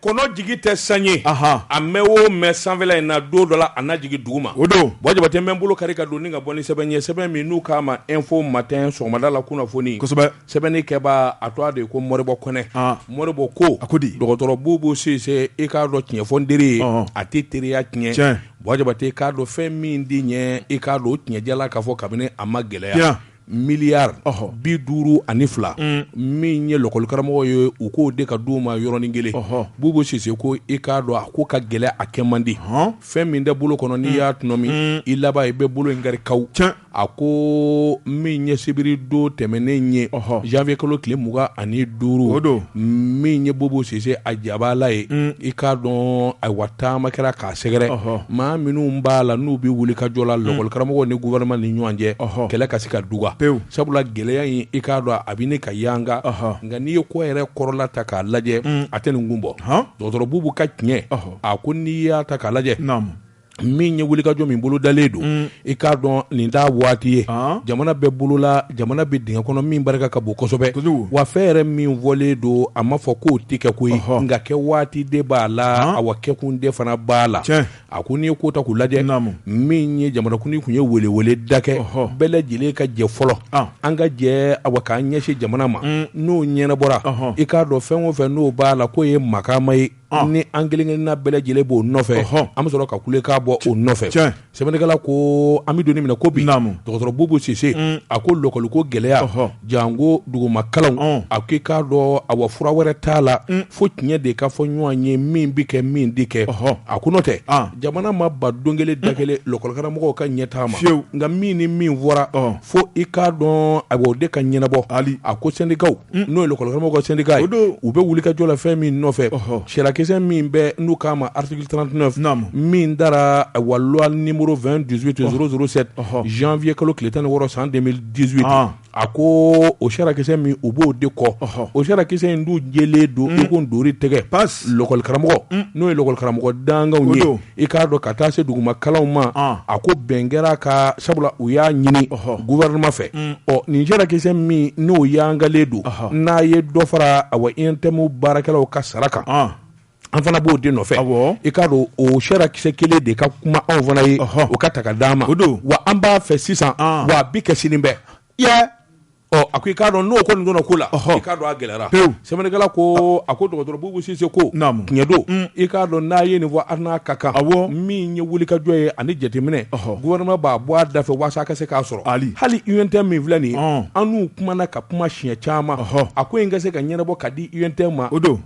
kɔnɔ jigi tɛ san ye a mɛɛn o mɛɛn sanfɛla in na don dɔ la a na jigin dugu ma o don wa jabate n bɛ n bolo kari ka don ni ka bɔ ni sɛbɛn ye sɛbɛn min n'u k'a ma info matin sɔgɔmada la kunnafoni sɛbɛnnikɛbaa a tɔgɔ de ko mɔribɔ kɔnɛ mɔribɔ ko a ko di dɔgɔtɔrɔ bubu sise i k'a dɔn tiɲɛ fɔ teri ye a tɛ teriya tiɲɛ wa jabate k'a dɔn fɛn min di ɲɛ i k'a dɔn tiɲɛ jalan k'a fɔ kabini a ma gɛlɛya miliyari bi duuru ani fila min ye lɔkɔlikaramɔgɔ ye u k'o de ka di u ma yɔrɔnin kelen bubu sise ko i k'a dɔn a ko ka gɛlɛn a kɛ man di fɛn min tɛ bolo kɔnɔ n'i y'a tɔnɔmi i laban i bɛ bolo in kari kaw ca a ko min ye sibiri don tɛmɛnen ye janvier kalo tile mugan ani duuru o don min ye bubu sise a jabaala ye i k'a dɔn ayiwa taama kɛra k'a sɛgɛrɛ maa minnu b'a la n'u bɛ wulikajɔ la lɔkɔli karamɔgɔw ni gouvernement ni ɲɔgɔn cɛ kɛlɛ ka se ka duga pewu sabula gɛlɛya in i k'a dɔn a bɛ ɲini ka yanga nka n'i ye ko yɛrɛ kɔrɔla ta k'a lajɛ a tɛ nin kun bɔ dɔgɔtɔrɔ bubu ka tiɲɛ a ko n'i y'a ta k'a lajɛ min ye wulikajɔ min bolo dalen don I k'a dɔn nin t'a waati ye jamana bɛ bolola jamana bɛ dingɛ kɔnɔ min barika ka bon kosɛbɛ wa fɛn yɛrɛ min fɔlen don a ma fɔ k'o tɛ kɛ koyi nka kɛ waati de b'a la a wa kɛkun de fana b'a la a ko n'i ye ko ta k'u lajɛ naamu min ye jamanakuntigi tun ye welewele da kɛ bɛɛ lajɛlen ka jɛ fɔlɔ an ka jɛ a wa k'an ɲɛsin jamana ma n'o ɲɛnabɔra i k'a dɔn fɛn o fɛn n'o b'a la k'o ye makama ye ni an kelenkelenna bɛɛ lajɛlen b'o nɔfɛ an bɛ sɔrɔ ka kulekan bɔ o nɔfɛ sɛbɛnnikɛla ko an bɛ don min na i ko bi dɔgɔtɔrɔ bubu sise a ko lɔkɔli ko gɛlɛya janko dugumakalanw a ko i k'a dɔn a wa fura wɛrɛ t'a la fo tiɲɛ de ka fɔ ɲɔgɔn ye min bɛ kɛ min tɛ kɛ a ko n'o tɛ jamana ma ban don kelen da kelen lɔkɔlikaramɔgɔw ka ɲɛtaa ma fiyewu nka min ni min fɔra fo i k'a dɔn a o de ka ɲɛnabɔ hali a ko sendikaw n'o ye lɔkɔlikaramɔgɔw ka sendika ye o don u bɛ wulikajɔ la fɛn min nɔfɛ sariyakisɛ min bɛ n'u k'a ma article trente-neuf min tara a wa loi numéro deux mille dix-huit zéro zéro sept janvier kalo tile tan ni wɔɔrɔ san deux mille dix-huit a ko o sariyakisɛ min u b'o de kɔ o sariyakisɛ in dun jɛlen don i ko ntori tɛgɛ pa lɔkɔli karamɔgɔ n'o ye lɔkɔli karamɔgɔ dankaw ye i k'a dɔn ka taa se duguma kalanw ma a ko bɛn kɛr'a kan sabula u y'a ɲini gouvernement fɛ ɔ nin sariyakisɛ min n'o yangalen don n'a ye dɔ fara a wa UNTM baarakɛlaw ka sara kan an fana b'o de nɔfɛ i k'a dɔn o sariyakisɛ kelen de ka kuma anw fana ye o ka ta ka d'an ma o don wa an b'a fɛ sisan wa a bi kɛ sini bɛɛ Ɔ a ko i k'a dɔn n'o kɔni donna ko la, ɔhɔ, i k'a dɔn a gɛlɛyara, pewu, sɛbɛnnikɛla ko a ko dɔgɔtɔrɔ Bubu Sise ko, naamu, tiɲɛ don, un, i k'a dɔn n'a ye nin fɔ a n'a ka kan, awɔ, min ye wulikajɔ ye ani jateminɛ, ɔhɔ, gouvernement b'a bɔ a da fɛ waasa a ka se k'a sɔrɔ, ali, hali UNTM min filɛ nin ye, ɔn, an n'u kumana ka kuma siɲɛ caman, ɔhɔ, a ko in ka se ka ɲɛnabɔ ka di UNTM ma, o don.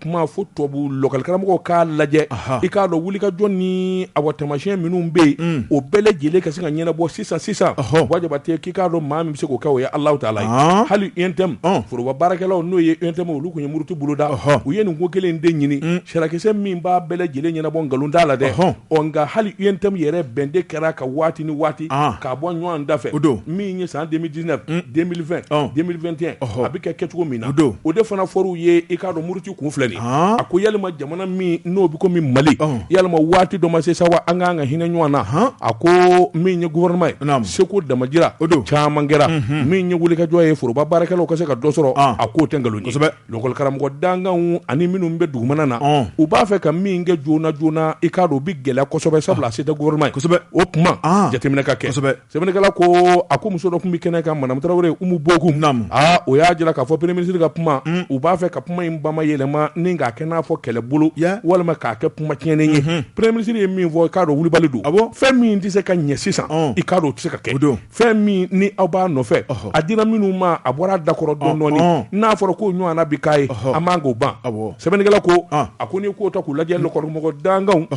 tuma fo tubabu lakɔlikaramɔgɔw k'a lajɛ i k'a dɔn wulikajɔ ni a wa tamasiɲɛ minnu bɛ yen o bɛɛ lajɛlen ka se ka ɲɛnabɔ sisan sisan wa Jabate k'i k'a dɔn maa min bɛ se k'o kɛ o ye Alahu Taala ye hali UNTM foroba baarakɛlaw n'o ye UNTM olu tun ye muruti boloda u ye nin ko kelen de ɲini sarakisɛ min b'a bɛɛ lajɛlen ɲɛnabɔ nkalon t'a la dɛ hɔn Ɔ nka hali UNTM yɛrɛ bɛn de kɛra ka waati ni waati k'a bɔ ɲɔɔn da fɛ, o don, min ye san 2019, un, 2020, ɔn, 2021, ɔhɔ, a bɛ kɛ kɛcogo min na, o don, o de fana fɔr'u ye, i k'a dɔn muruti kun filɛ nin ye, haan, a ko yalima jamana min n'o bɛ komi Mali, ɔn, yalima waati dɔ ma se sa wa an ka kan ka hinɛ ɲɔɔn na, haan, a ko min ye gouvernement ye, naamu, seko damajira, o don, caman kɛra, unhun, min ye wulikajɔ ye foroba baarakɛlaw ka se ka dɔ sɔrɔ, ɔn, a k'o tɛ nkalon ye, kosɛbɛ. Lakɔlikaramɔgɔ dankanw ani minnu bɛ dugumana na, ɔn, u b'a fɛ ka min kɛ joona joona i k'a dɔn o bɛ gɛlɛya kosɛbɛ sabula a se tɛ gouvernement ye, kosɛbɛ, o tuma, an, jateminɛ ka kɛ, kosɛbɛ, sɛbɛnnikɛla ko a ko muso dɔ tun bɛ kɛnɛ kan madame Tarawele Umu Bokum, naamu, aa o y'a jira k'a fɔ premier ministre ka kuma, un, u b'a fɛ ka kuma in bamayɛlɛma ni k'a kɛ n'a fɔ kɛlɛbolo, ya, walima k'a kɛ kuma tiɲɛnen ye, unhun, premier ministre ye min fɔ i k'a dɔn wulibali don, awɔ, fɛn min tɛ se ka ɲɛ sisan, ɔn, i k'a dɔn o tɛ se ka kɛ, o don. fɛn min ni aw b'a nɔfɛ a dira minnu ma a bɔra a da kɔrɔ dɔndɔɔni n'a fɔra ko ɲɔgɔnna bi k'a ye a man k'o ban sɛbɛnnikɛla ko a ko n'i k'o ta k'u lajɛ lakɔlikaramɔgɔ dankanw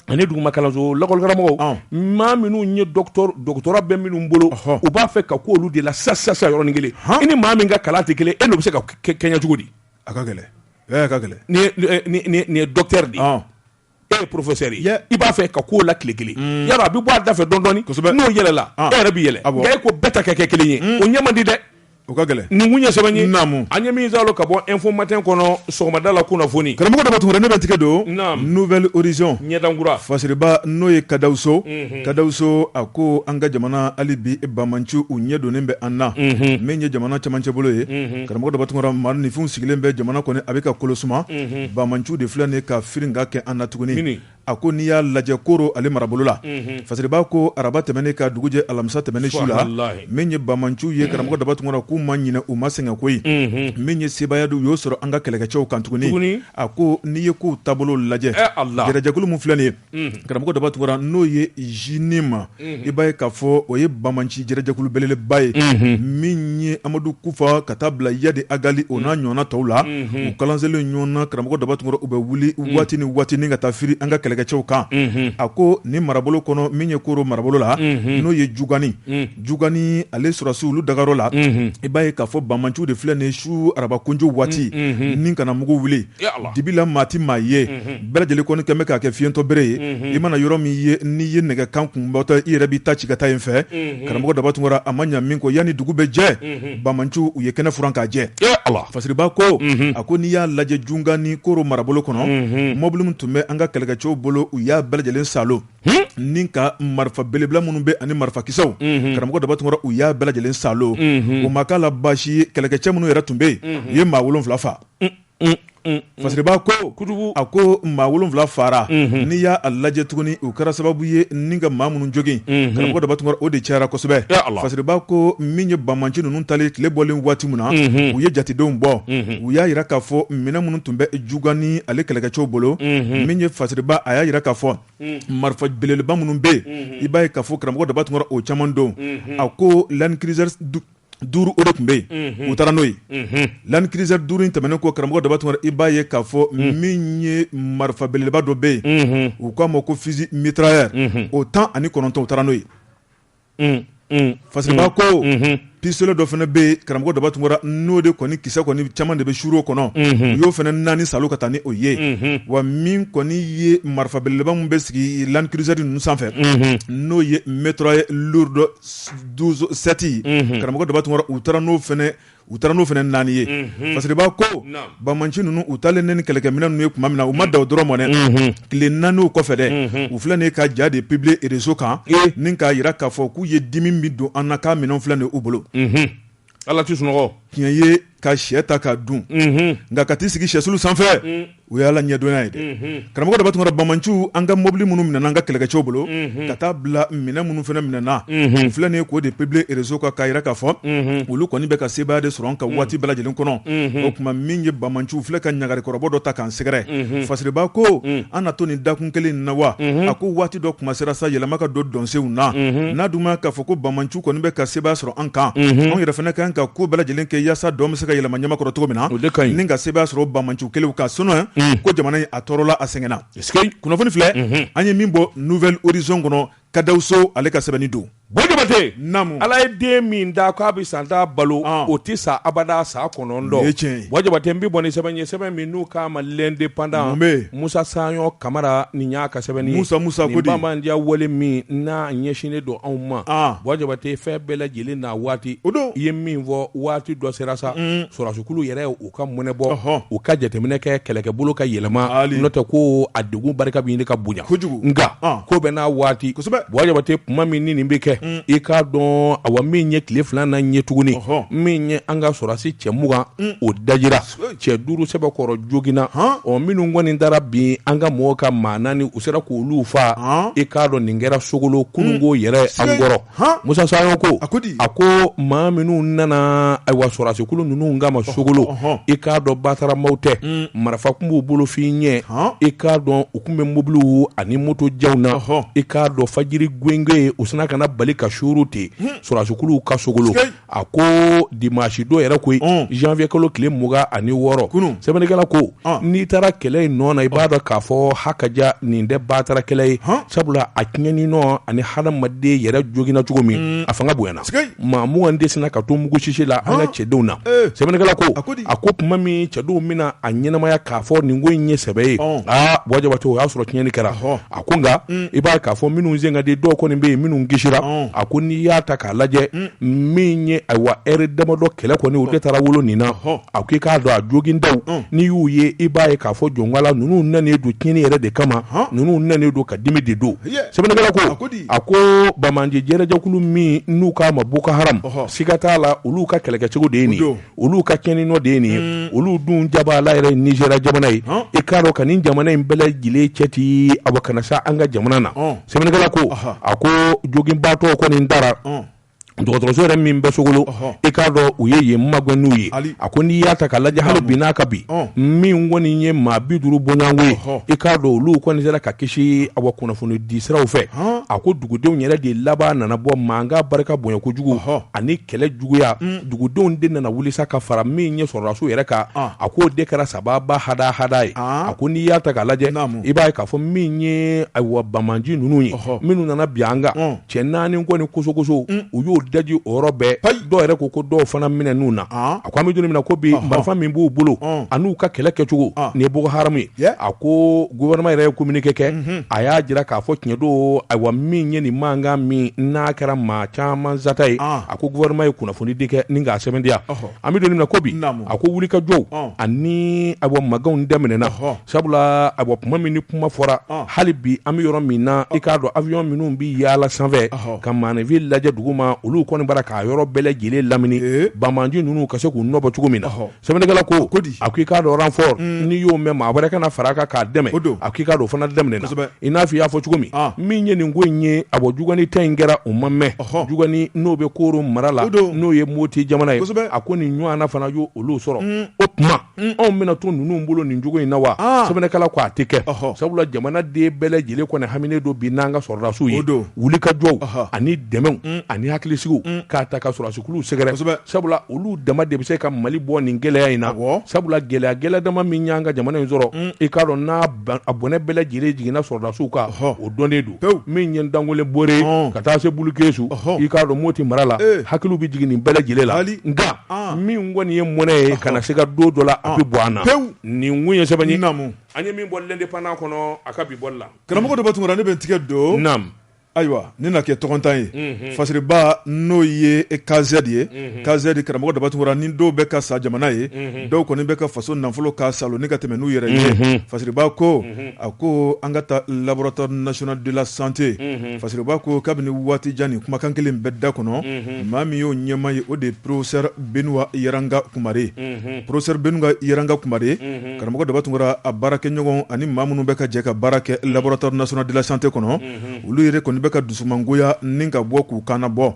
ani duguma kalanso lakɔlikaramɔgɔw maa minnu ye doctorat bɛ minnu bolo u b'a fɛ ka ko olu de la sa sa sa yɔrɔnin kelen i ni maa min ka kalan tɛ kelen e n'o bɛ se ka kɛɲɛ cogo di a ka gɛlɛn ka gɛlɛn nin ye docteur de e ye professeur ye i b'a fɛ ka ko la tile kelen mm. Yaro a bɛ bɔ a dafɛ dɔndɔɔni n'o yɛlɛla ah. e yɛrɛ bɛ yɛlɛ ah, e ko bɛɛ ta ka kɛ kelen ye mm. o ɲɛ man di dɛ o ka gɛlɛn nin kun ye sɛbɛn ye naamu an ye min zalo ka bɔ info matin kɔnɔ sɔgɔmada la kunnafoni karamɔgɔ Daba Tunkara ne bɛ n tigɛ don naamu nouvelle horizon ɲɛdankura fasiriba n'o ye kadawuso mhm. kadawuso a ko an ka jamana hali bi bamanciw ɲɛ donnen bɛ an na mhm. min ye jamana camancɛ bolo ye mhm. karamɔgɔ Daba Tunkara maaninfinw sigilen bɛ jamana kɔni a bɛ ka kolosuma Bamanciw de filɛ nin ka firikan kɛ an na tuguni a ko n'i y'a lajɛ Koro ale marabolo la fasiriba ko araba tɛmɛnen ka dugujɛ alamisa tɛmɛnen su la min ye bamanciw ye karamɔgɔ Daba Tunkara k'u ma ɲinɛ u ma sɛgɛn koyi min ye sebaaya don u y'o sɔrɔ an ka kɛlɛkɛcɛw kan tuguni a ko n'i ye kow taabolo lajɛ jɛrɛjɛkulu min filɛ nin ye karamɔgɔ Daba Tunkara n'o ye JNIM i b'a ye k'a fɔ o ye bamanci jɛrɛjɛkulu belebeleba ye min ye amadu kufa ka taa bila Iyadi Agali o n'a ɲɔgɔnna tɔw la u kalan selen ɲɔgɔnna karamɔgɔ Daba Tunkara u bɛ wuli waati ni waati ka taa firi an ka kɛlɛkɛcɛw kan a ko ni marabolo kɔnɔ min ye koro marabolo la n'o ye Jugani Jugani ale sɔrɔsiw olu dagayɔrɔ la i b'a ye k'a fɔ bamanciw de filɛ nin su araba kunjo waati nin ka na mugu wuli dibi la maa tɛ maa ye bɛɛ lajɛlen kɔni kɛmɛ bɛ k'a kɛ fiɲɛtɔ bere ye i mana yɔrɔ min ye n'i ye nɛgɛ kan kun batɔ i yɛrɛ b'i ta ci ka taa yen fɛ karamɔgɔ daba tunkara a ma ɲa min kɔ yanni dugu bɛ jɛ banbaanciw ye kɛnɛ furan ka jɛ fasiriba ko a ko n'i y'a lajɛ jungani koro marabolo kɔnɔ mɔbili min tun bɛ an ka kɛlɛkɛcɛw bolo u y'a bɛɛ lajɛlen saalo ni ka marifa belebeleba minnu bɛ ani marifakisɛw karamɔgɔ daba tunkara u y'a bɛɛ lajɛlen saalo o ma k'a la basi kɛlɛkɛcɛ minnu yɛrɛ tun bɛ yen u ye maa wolonwula faga fasiriba ko a ko maa wolonwula fara n'i y'a lajɛ tuguni u kɛra sababu ye ni ka maa minnu jogin karamɔgɔ daba tunkara o de cayara kosɛbɛ fasiriba ko min ye banbaanci ninnu taalen tile bɔlen waati min na u ye jatedenw bɔ u y'a jira k'a fɔ minɛn minnu tun bɛ jungani ale kɛlɛkɛcɛw bolo min ye fasiriba a y'a jira k'a fɔ marifa belebeleba minnu bɛ yen i b'a ye k'a fɔ karamɔgɔ daba tunkara o caman don a ko land cruiser duuru o de tun bɛ yen u taara n'o ye land cruiser duuru in tɛmɛnen kɔ karamɔgɔ daba tunkara i b'a ye k'a fɔ min ye marifa belebeleba dɔ bɛ yen u k'a ma ko fusil mitrailleur o tan ani kɔnɔntɔn u taara n'o ye fasiriba ko pistolet dɔ fana bɛ yen karamɔgɔ daba tunkara n'o de kɔni kisɛ kɔni caman de bɛ sɔrɔ a kɔnɔ u y'o fana naani saalo ka taa ni o ye wa min kɔni ye marifa belebeleba min bɛ sigi land cruiser ninnu sanfɛ n'o ye mitrailleur douze sept karamɔgɔ daba tunkara u taara n'o fana u taara n'o fana naani ye fasiriba ko banbaanci ninnu u taalen ni kɛlɛkɛminɛn ninnu ye tuma min na u ma dan o dɔrɔn ma dɛ tile naani kɔfɛ dɛ u filɛ nin ye ka ja de publier réseau kan ni k'a jira k'a fɔ k'u ye dimi min don an na k'a minɛn filɛ nin u bolo Ala tɛ sunɔgɔ tiɲɛ ye ka shɛ ta ka dun nka ka t'i sigi shɛsulu sanfɛ o ye Ala ɲɛdɔnya ye dɛ karamɔgɔ Daba Tunkara Banbaanciw an ka mɔbili minnu minɛna an ka kɛlɛkɛcɛw bolo ka taa bila minɛn minnu fana minɛna u filɛ nin ye k'o de publier réseau kan k'a jira k'a fɔ olu kɔni bɛ ka sebaaya de sɔrɔ an kan waati bɛɛ lajɛlen kɔnɔ o tuma min ye Banbaanciw filɛ ka ɲagari kɔrɔbɔ dɔ ta k'an sɛgɛrɛ Fasiriba ko an na to nin dakun kelen in na wa a ko waati dɔ tuma sera sa yɛlɛma ka don dɔnsenw na n'a dun ma ye k'a fɔ ko Banbaanciw u kɔni bɛ ka sebaaya sɔrɔ an kan anw yɛrɛ fana kan ka ko bɛɛ lajɛlen kɛ yaasa dɔn bɛ se ka yɛlɛma ɲamakɔrɔ cogo min na ni ka sebaaya sɔrɔ banbaanci kelen kan sinon ko jamana in a tɔɔrɔla a sɛgɛnna kunnafoni filɛ an ye min bɔ nouvel horizon kɔnɔ kadawuso ale ka sɛbɛnni don buwa jabate ala ye den min da k'a bɛ san tan balo o tɛ sa abada san kɔnɔntɔn n bɛ bɔ sɛbɛn sɛbɛn min n'u k'a ma l'indépendant Musa sayɔn kamara nin y'a ka sɛbɛnni ye musa nin bandiya wale min n'a ɲɛsinnen don anw ma buwa jabate fɛn bɛɛ lajɛlen n'a waati i ye min fɔ waati dɔ sera sa sɔrɔdasikulu yɛrɛ u ka mɔnɛ bɔ u ka jateminɛ kɛ kɛlɛkɛbolo ka yɛlɛma n'o tɛ ko a degun barika bɛ ɲini ka bonya nka ko bɛɛ n'a waati buwa jabate tuma min ni nin bɛ kɛ i k'a dɔn a wa min ye tile fila na ɲɛ tuguni min ye an ka sɔrɔdasi cɛ mugan o dajira cɛ duuru sɛbɛkɔrɔ joginna ɔ minnu kɔni taara bin an ka mɔgɔw kan maa naani u sera k' olu faa i k'a dɔn nin kɛra sogolo kununko yɛrɛ an kɔrɔ musa saɲɔ ko a ko maa minnu nana ayiwa sɔrɔdasikulu ninnu kama sogolo i k'a dɔn batara maaw tɛ marifa tun b'u bolo f'i ɲɛ i k'a dɔn u tun bɛ mobiliw ani moto jaw na i k'a dɔn fajiri gwenge u sinna ka na bali ka suuru ten sɔrɔdasikuluw kan sogolo a ko dimasi don yɛrɛ koyi janvier kalo tile mugan ani wɔɔrɔ sɛbɛnnikɛla ko n'i taara kɛlɛ in nɔ na i b'a dɔn k'a fɔ hakaja nin tɛ batara kɛlɛ ye sabula a tiɲɛni nɔ ani hadamaden yɛrɛ joginna cogo min a fanga bonyana maa mugan de sinna ka to mugusisi la an ka cɛdenw na sɛbɛnnikɛla ko a ko tuma min cɛdenw bɛna a ɲɛnamaya k'a fɔ nin ko in ye sɛbɛ ye aa bɔ jabate o y'a sɔrɔ tiɲɛni kɛra hɔ A ko nka i b'a ye k'a fɔ minnu sen ka di dɔw kɔni bɛ yen minnu kisira a ko n'i y'a ta k'a lajɛ min ye ayiwa ɛri damadɔ kɛlɛ kɔni o de taara wolo nin na a ko i k'a dɔn a jogindaw n'i y'u ye i b'a ye k'a fɔ jɔn k'ala ninnu nanen don tiɲɛni yɛrɛ de kama ninnu nanen don ka dimi de don sɛbɛnnikɛla ko a ko banbaanci jɛkulu min n'u k'a ma boko haramu siga t'a la olu ka kɛlɛkɛcogo de ye nin olu ka tiɲɛni nɔ de ye nin ye mm. olu dun jaba ala yɛrɛ nizeriya jamana ye i k'a dɔn ka nin jamana in bɛɛ lajɛlen cɛti awa ka na se an ka jamana na sɛbɛnnikɛla ko a ko joginbaatɔ kɔni dara dɔgɔtɔrɔso yɛrɛ min bɛ sogolo i k'a dɔn u ye yen magɛn n'u ye a ko n'i y'a ta ka lajɛ hali bi n'a ka bi min kɔni ye maa bi duuru bɔɲɔgɔnko ye i k'a dɔn olu kɔni sera ka kisi awa kunnafoni di siraw fɛ a dugudenw yɛrɛ de laban nana bɔ mankan barika bonya kojugu ani kɛlɛ juguya dugudenw de nana wuli sa ka fara min ye sɔrɔdasiw yɛrɛ kan a k'o de kɛra sababu ha hada ye a ko n'i y'a ta k'a lajɛ i b'a ye k'a fɔ min ye ayiwa banbaanci ninnu ye minnu nana bin an kan cɛ naani kɔni kosokoso u y'o daji o yɔrɔ bɛɛ dɔw yɛrɛ ko ko dɔw fana minɛn'u na a ko an bɛ don min na ko bi marifa min b'u bolo ani u ka kɛlɛ kɛcogo nin ye boko haramu ye a ko gouvernement yɛrɛ ye communiqué kɛ a y'a jira k'a fɔ tiɲɛ don ayiwa min ye nin mankan min n'a kɛra maa caman sata ye a ko gouvernement ye kunnafoni di kɛ ni k'a sɛbɛntiya an bɛ don min na ko bi a ko wulikajɔw ani awa maganw daminɛɛna hɔ Sabula a bɔ kuma min ni kuma fɔra hali bi an bɛ yɔrɔ min na i k'a dɔn avion minnu bɛ yaala sanfɛ ka maaninfin lajɛ dugu ma olu kɔni bɔra k'a yɔrɔ bɛɛ lajɛlen lamini banbaanci ninnu ka se k'u nɔbɔ cogo min na sɛbɛnnikɛla ko a ko i k'a dɔn renfort n'i y'o mɛn maa wɛrɛ ka na fara kan k'a dɛmɛ a ko i k'a dɔn o fana daminɛna i n'a fɔ i y'a fɔ cogo min min ye nin ko in ye a bɔ jungani ta in kɛra o ma mɛn jungani n'o bɛ koro mara la n'o ye moti jamana ye a ko nin ɲɔgɔn fana y' olu sɔrɔ o tuma Unh anw bɛna to ninnu bolo nin cogo in na wa aa sɛbɛnnikɛla ko a tɛ kɛ ɔhɔ sabula jamanaden bɛɛ lajɛlen kɔni haminen don bi n'an ka sɔrɔdasiw ye o don wulikajɔw ɔhɔ ani dɛmɛw unh ani hakilisigiw unh ka taa ka sɔrɔdasikuluw sɛgɛrɛ kosɛbɛ sabula olu dama de bɛ se ka Mali bɔ nin gɛlɛya in na awɔ sabula gɛlɛya gɛlɛya dama min y'an ka jamana in sɔrɔ unh i k'a dɔn n'a ban a bɔnɛ bɛɛ lajɛlen jiginna sɔrɔdasiw kan ɔhɔ o dɔnnen don min ye Dangolo Bore ka taa se Bulukesu i k'a dɔn Moti mara la hakili bɛ jigin nin bɛɛ lajɛlen la nka min kɔni ye mɔnɛ ye kana na se ka don dɔ la a bɛ bɔ an na pewu nin kun ye sɛbɛn ye an ye min bɔ L'Indépendant kɔnɔ a ka bi bɔli la karamɔgɔ Daba Tunkara ne bɛ n tigɛ don ayiwa nin na kɛ tɔgɔntan ye Fasiriba n'o ye KZ ye KZ karamɔgɔ Daba Tunkara ni dɔw bɛ ka sa jamana ye dɔw kɔni bɛ ka faso nafolo ka salo ni ka tɛmɛ n'u yɛrɛ ye Fasiriba ko a ko an ka taa laboratoire national de la santé Fasiriba ko kabini waati jan nin kumakan kelen bɛ da kɔnɔ maa min y'o ɲɛmaa ye o de ye professeur Benuwa Yaranga Kumare professeur Benuwa Yaranga Kumare karamɔgɔ Daba Tunkara a baarakɛɲɔgɔn ani maa minnu bɛ ka jɛ ka baara kɛ laboratoire national de la santé kɔnɔ olu yɛrɛ kɔni bɛ ka dusumangoya ni ka bɔ k'u kana bɔ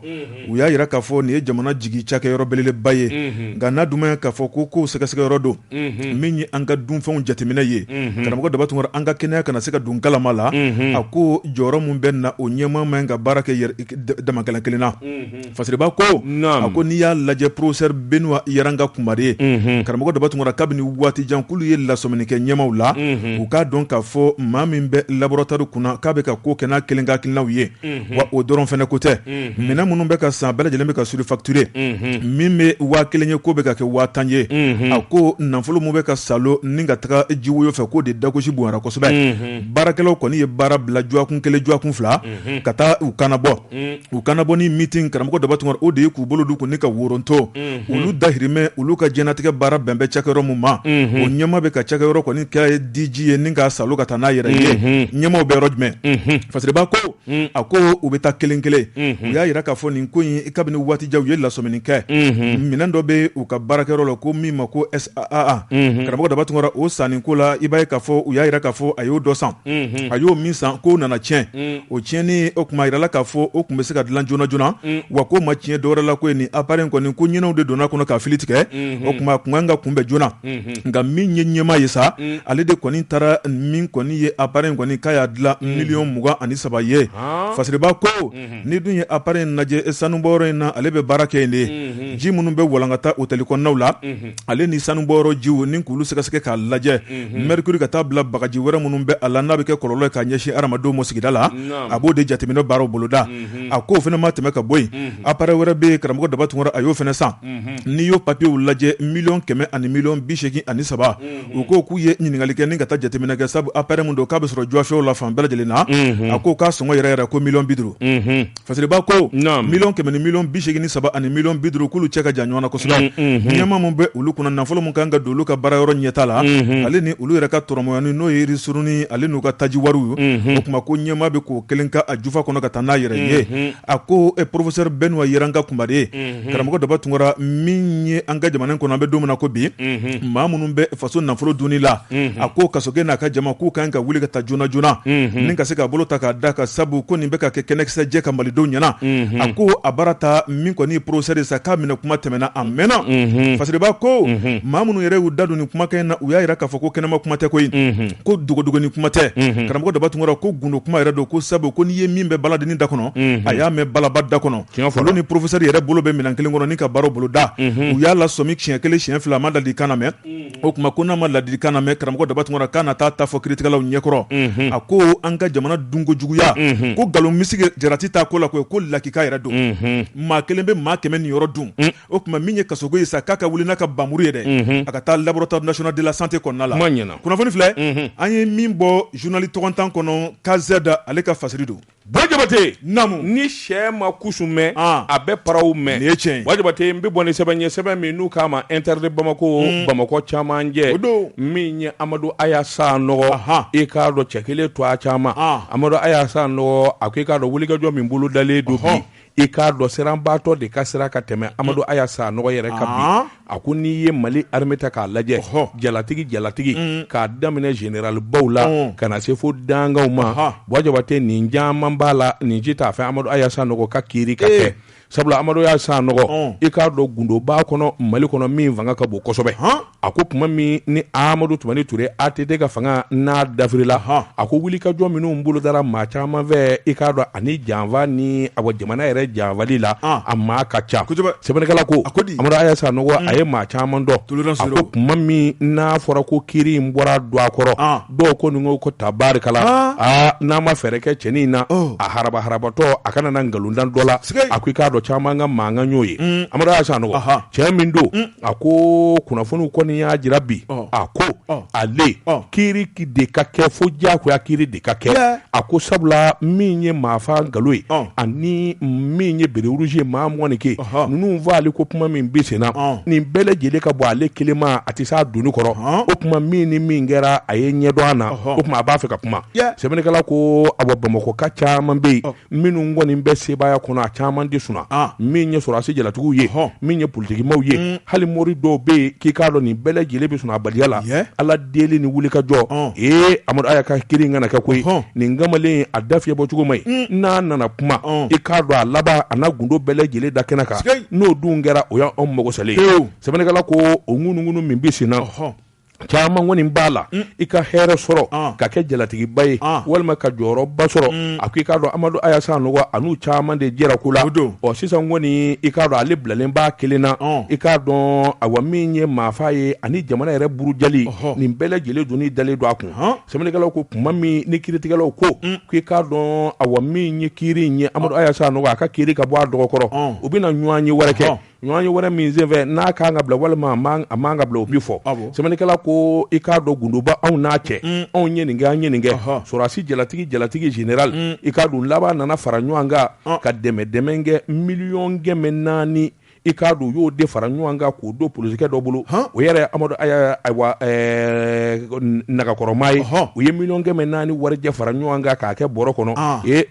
u y'a jira k'a fɔ nin ye jamana jigi cakɛyɔrɔ belebeleba ye nka n'a dun b'a ye k'a fɔ ko kow sɛgɛsɛgɛyɔrɔ don min ye an ka dunfɛnw jateminɛ ye karamɔgɔ Daba Tunkara an ka kɛnɛya kana na se ka don kalama la a ko jɔyɔrɔ min bɛ na o ɲɛmaa man ka baara kɛ dama kelen kelen na Fasiriba ko a ko n'i y'a lajɛ professeur Benuwa Yaranga Kumare ye karamɔgɔ Daba Tunkara kabini waati jan k'olu ye lasɔmini kɛ ɲɛmaaw la u k'a dɔn k'a fɔ maa min bɛ laboratoire kunna k'a bɛ ka ko kɛ n'a kelen ka hakilinaw ye wa o dɔrɔn fɛnɛ ko tɛ minɛn minnu bɛ ka san bɛɛ lajɛlen bɛ ka surfacturé min bɛ waa kelen ye k'o bɛ ka kɛ waa tan ye a ko nafolo min bɛ ka salo ni ka taga jiwoyo fɛ k'o de dagosi bonyara kosɛbɛ baarakɛlaw kɔni ye baara bila juwakun kelen juwakun fila ka taa u kana bɔ u kana bɔ ni meeting karamɔgɔ Daba Tunkara o de ye k'u bolo don kun ni ka woronto olu dahirimɛ olu ka jɛnatigɛ baara bɛn bɛ cakɛyɔrɔ min ma o ɲɛmaa bɛ ka cakɛyɔrɔ kɔni kɛ a ye diji ye ni ka salo ka taa n'a yɛrɛ ye ɲɛmaaw bɛ yɔrɔ jumɛn Fasiriba ko a ko u bɛ taa kelen kelen u y'a jira k'a fɔ nin ko in kabini waati jan u ye lasɔmini kɛ minɛn dɔ bɛ u ka baarakɛyɔrɔ la ko min ma ko SAA karamɔgɔ Daba Tunkara o sanni ko la i b'a ye k'a fɔ u y'a jira k'a fɔ a y'o dɔ san a y'o min san k'o nana tiɲɛ o tiɲɛni o tuma a jirala k'a fɔ o tun bɛ se ka dilan joona joonana wa k'o ma tiɲɛ dɔwɛrɛ la ko nin appareil in kɔni ko ɲinɛw de donna a kɔnɔ k'a fili tigɛ o tuma a tun kan ka kunbɛn joona nka min ye ɲɛmaa ye sa ale de kɔni taara min kɔni ye appareil in kɔni k'a y'a dilan miliyɔn mugan ani saba ye Fasiriba ko n'i dun ye appareil in lajɛ sanubɔyɔrɔ in na ale bɛ baara kɛ yen de ji minnu bɛ walankata otɛli kɔnɔnaw la ale ni sanu bɔyɔrɔ jiw ni k'olu sɛgɛsɛgɛ k'a lajɛ mercure ka taa bila bagaji wɛrɛ minnu bɛ a la n'a bɛ kɛ kɔlɔlɔ ka ɲɛsin hadamadenw ma sigida la a b'o de jateminɛ baaraw boloda a ko o fana ma tɛmɛ ka bɔ yen appareil wɛrɛ bɛ karamɔgɔ daba tunkara a y'o fana san n'i y'o papiyew lajɛ miliyɔn kɛmɛ ani miliyɔn bi segin ani saba u ko k'u ye ɲininkali kɛ ni ka taa jateminɛ kɛ sabu appareil min don k'a bɛ sɔrɔ jɔfɛw la fan bɛɛ lajɛlen na a ko k'a sɔngɔ yɛrɛ yɛrɛ ko miliyɔn bi duuru Fasiriba ko miliyɔn kɛmɛ ni miliyɔn bi segin ni saba ani miliyɔn bi duuru k'olu cɛ ka jan ɲɔgɔn na kosɛbɛ ɲɛmaa min bɛ olu kunna nafolo min kan ka don olu ka baara yɔrɔ ɲɛtaa la ale ni olu yɛrɛ ka tɔrɔmɔyani n'o ye ristourne ale n'u ka taji wariw o kuma ko ɲɛmaa bɛ k'o kelen ka a jufa kɔnɔ ka taa n'a yɛrɛ ye a ko professeur benoît yaranga kumare ye mhm. karamɔgɔ daba tunkara min ye an ka jamana in kɔnɔ an bɛ don min na ko bi mhm. maa minnu bɛ faso nafolo dunni la mhm. a ko kasoge n'a ka jama k'u kan ka wuli ka taa joona joona ni ka se k'a bolo ta k'a da kan sabu ko nin bɛ ka kɛ kɛnɛkisɛjɛ ka malidenw ɲɛna a ko a baara ta min kɔni professeur ye sa k'a minɛ kuma tɛmɛna a mɛnna fasiriba ko maa minnu yɛrɛ y'u da don nin kumakan in na u y'a yira k'a fɔ ko kɛnɛma kuma tɛ koyi ko dogodogoni kuma tɛ karamɔgɔ daba tunkara ko gundo kuma yɛrɛ don ko sabu ko n'i ye min bɛ baladennin da kɔnɔ a y'a mɛn balaba da kɔnɔ Olu ni professeur yɛrɛ bolo bɛ minɛn kelen kɔnɔ ni ka baara boloda u y'a lasɔmi siɲɛ kelen siɲɛ fila a ma ladilikan namɛn o kuma ko n'a ma ladilikan namɛn karamɔgɔ daba tunkara k'a na taa t'a fɔ kiiritigɛlaw ɲɛkɔrɔ a ko an ka jamana dunkojuguya ko nkalon misigi jarati t'a ko la koyi ko lakika yɛrɛ don maa kelen bɛ maa kɛmɛ niyɔrɔ dun o kuma min ye kasoge ye sa k'a ka wuli n'a ka npanmuru ye dɛ a ka taa laboratoire national de la santé kɔnɔna la ɲɛna kunnafoni filɛ an ye min bɔ journal tɔgɔntan kɔnɔ KZ ale ka fasiri don Bon jabate namu ni syɛ ma kusu mɛn a bɛ paraw mɛn ye tiɲɛ bon jabate n bɛ bɔ ni sɛbɛn ye sɛbɛn min n'u k'a ma inter de bamakɔ bamakɔ camancɛ o don min ye amadu aya sanɔgɔ i k'a dɔn cɛ kelen tɔgɔ caman amadu aya sanɔgɔ a ko i k'a dɔn wulikajɔ min bolo dalen don bi i k'a dɔn siranbaatɔ de ka sira ka tɛmɛ amadu mm. aya sanɔgɔ yɛrɛ kan bi ah. a ko n'i ye mali armée ta k'a lajɛ jalatigi jalatigi mm. k'a daminɛ général baw la mm. ka na se fo dangaw ma bon jabate nin caman b'a la nin si t'a fɛ amadu aya sanɔgɔ ka kiiri ka eh. kɛ sabula amadu aya sanɔgɔ i k'a dɔn gundo b'a kɔnɔ mali kɔnɔ min fanga ka bon kosɛbɛ a ko tuma min ni amadu tumani ture ATT ka fanga n'a dafiri la hɔn a ko wulikajɔ minnu bolo dara maa caman fɛ i k'a dɔn ani janfa ni jamana yɛrɛ janfali la a maa ka ca sɛbɛnnikɛla ko aya sanɔgɔ a ye maa caman dɔn ko tuma min n'a fɔra ko kiiri in bɔra don a kɔrɔ dɔw ko nin ko tabarikala aa n'a ma fɛɛrɛ kɛ cɛnin in na a ha habatɔ a kana na nkalon da an dɔ la a ko i k'a dɔn caman ka mankan y'o ye amadu aya sanɔgɔ cɛ min don A ko kunnafoniw kɔni y'a jira bi a ko ale kiri de ka kɛ fo diyagoya kiri de ka kɛ a ko sabula min ye maafa nkalon ye ani min ye béret rouge ye maa mugan ni kelen ninnu fa ale ko kuma min bɛ sen na nin bɛɛ lajɛlen ka bɔ ale kelen ma a tɛ s'a doni kɔrɔ o kuma min ni min kɛra a ye ɲɛdɔn a na o kuma a b'a fɛ ka kuma sɛbɛnnikɛla ko a bamakɔka caman bɛ yen minnu kɔni bɛ sebaaya kɔnɔ a caman tɛ sunaa min ye sɔrɔdasi jalatigiw ye min ye politikimaaw ye mm. hali mori dɔw bɛ yen k'i k'a dɔn nin bɛɛ lajɛlen bɛ sunaabaliya la aladeli ni wulikajɔ ee amadu aya ka kiri kana kɛ koyi nin kamalen a da fiɲɛ bɔ cogo man ɲi mm. n'a nana kuma i k'a dɔn a laban a na gundo bɛɛ lajɛlen da kɛnɛ kan n'o dun kɛra o y'an anw mago salen sɛbɛnnikɛla ko o ŋunuŋunu min bɛ sen na caman kɔni b'a la mm. i ka hɛrɛ sɔrɔ ah. ka kɛ jalatigiba ye ah. walima ka jɔyɔrɔba sɔrɔ mm. a ko i k'a dɔn amadu aya sanɔgɔ a n'u caman de jɛra ko la ɔ sisan kɔni i k'a dɔn ale bilalen b'a kelen na ah. i k'a dɔn awa min ye maafa ye ani jamana yɛrɛ burujali nin bɛɛ lajɛlen doni dalen don a kun sɛbɛnnikɛla ko kuma min ni kiritigɛlaw ko mm. ko i k'a dɔn awa min ye kiri in ye amadu aya sanɔgɔ a ka kiri ka bɔ a dɔgɔkɔrɔ u bɛna ɲɔgɔnye wɛrɛ kɛ ɲɔgɔnye wɛrɛ min senfɛ n'a ka kan ka bila walima a man ka bila o bi fɔ sɛbɛnnikɛla ko i k'a dɔn gundoba anw n'a cɛ an ye nin kɛ an ye nin kɛ sɔrɔdasi jalatigi jalatigi général i k'a dɔn laban nana fara ɲɔgɔn kan ka dɛmɛdɛmɛ kɛ miliyɔn kɛmɛ naani i k'a dɔn u y'o de fara ɲɔgɔn kan k'o don polisikɛ dɔ bolo o yɛrɛ amadu nagakɔrɔma ye u ye miliyɔn kɛmɛ naani warijɛ fara ɲɔgɔn kan k'a kɛ bɔrɔ kɔnɔ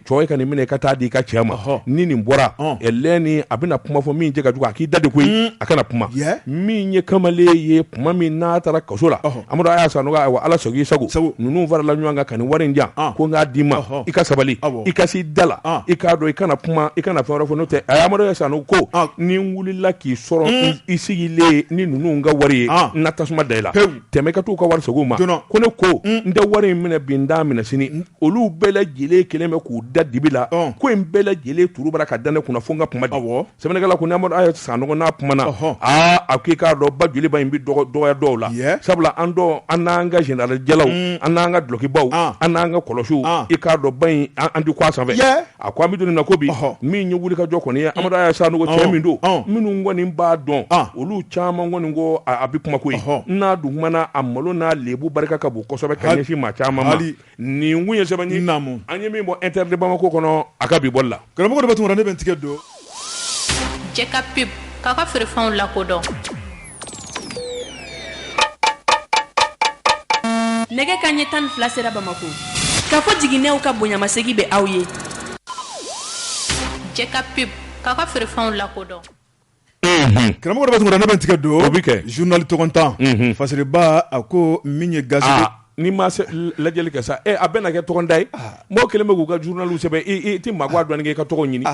cɛ ka nin minɛ ka taa di i ka cɛ ma ni nin bɔra lɛni a bɛna kuma fɔ min cɛ ka jugu a k'i da de koyi a kana kuma min ye kamalen ye kuma min n'a taara kaso la amadu aya sanɔgɔ ala sago i sago ninnu farala ɲɔgɔn kan ka nin wari in jan ko n k'a d'i ma i ka sabali i ka i da la i k'a dɔn i kana kuma i kana fɛn wɛrɛ fɔ n'o tɛ amadu aya sanɔgɔ ko ni n wulila k'i sɔrɔ i sigilen ni ninnu ka wari ye n na tasuma da i la tɛmɛ ka t'u ka wari segin u ma ko ne ko n tɛ wari in minɛ bi n t'a minɛ sini olu bɛɛ lajɛlen kelen bɛ k'u da dibi la ko in bɛɛ lajɛlen tuuru bara ka da ne kunna fo n ka kuma dɛ sɛbɛnnikɛla ko n'aya sanɔgɔ n'a kumana aaa a ko i k'a dɔn ba joliba in bɛ dɔgɔya dɔw la sabula an an n'an ka général jalaw an n'an ka dulokibaw an n'an ka kulusiw i k'a dɔn ba in an tɛ ko a sanfɛ A ko an bɛ don nin na ko bi min ye wulikajɔ kɔni ye amadu aya sanɔgɔ cɛ min don minnu kɔni b'a dɔn olu caman kɔni ko a bɛ kuma koyi n'a dun kumana a malo n'a lebu barika ka bon kosɛbɛ ka ɲɛsin maa caman ma nin kun ye sɛbɛn ye an ye min bɔ Inter de Bamako kɔnɔ a ka bi bɔli la karamɔgɔ bɛ tun ne bɛ tigɛ don Jɛ ka pub k'a ka feerefɛnw lakodɔn nɛgɛ kanɲɛ tan ni fila sera bamakɔ Kafo Jiginɛw ka bonyamasegin bɛ aw ye jɛ ka pub k'a ka feerefɛnw lakodɔn karamɔgɔ ne bɛ tigɛ don o bɛ kɛ zurunali tɔgɔntan fasiriba a ko min ye ga N'i ma lajɛli kɛ sa a bɛna kɛ tɔgɔntan ye mɔgɔ kelen bɛ k'u ka zurunaliw sɛbɛn i tɛ maa dɔn k'i ka tɔgɔ ɲini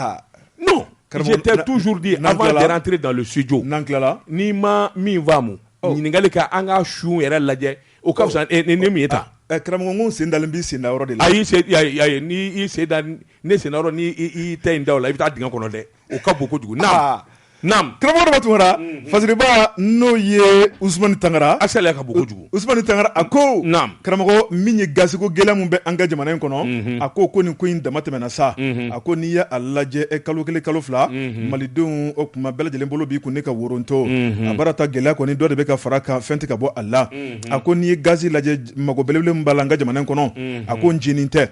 non je t'ai toujours dit avant de rentrer dans le studio n'an tilala n'i ma min faamu ɲininkali kɛ an ka sun yɛrɛ lajɛ o ka fisa ni min ye ta karamɔgɔ n ko n sen dalen b'i sen da yɔrɔ de la ayi n'i sen da ne sen da yɔrɔ n'i tɛ i da o la i bɛ taa dingɛ kɔnɔ dɛ o ka bon kojugu naam karamɔgɔ Daba Tunkara fasiriba n'o ye Usumani Tangara a sariya ka bon kojugu Usumani Tangara a ko karamɔgɔ min ye gaziko gɛlɛya min bɛ an ka jamana in kɔnɔ a ko ko nin ko in dama tɛmɛna sa a ko n'i ye a lajɛ e kalo kelen kalo fila malidenw o kuma bɛɛ lajɛlen bolo b'i kun ne ka woronto a baara ta gɛlɛya kɔni dɔ de bɛ ka fara kan fɛn tɛ ka bɔ a la a ko n'i ye gazi lajɛ mago belebele min b'a la an ka jamana in kɔnɔ a ko ncinin tɛ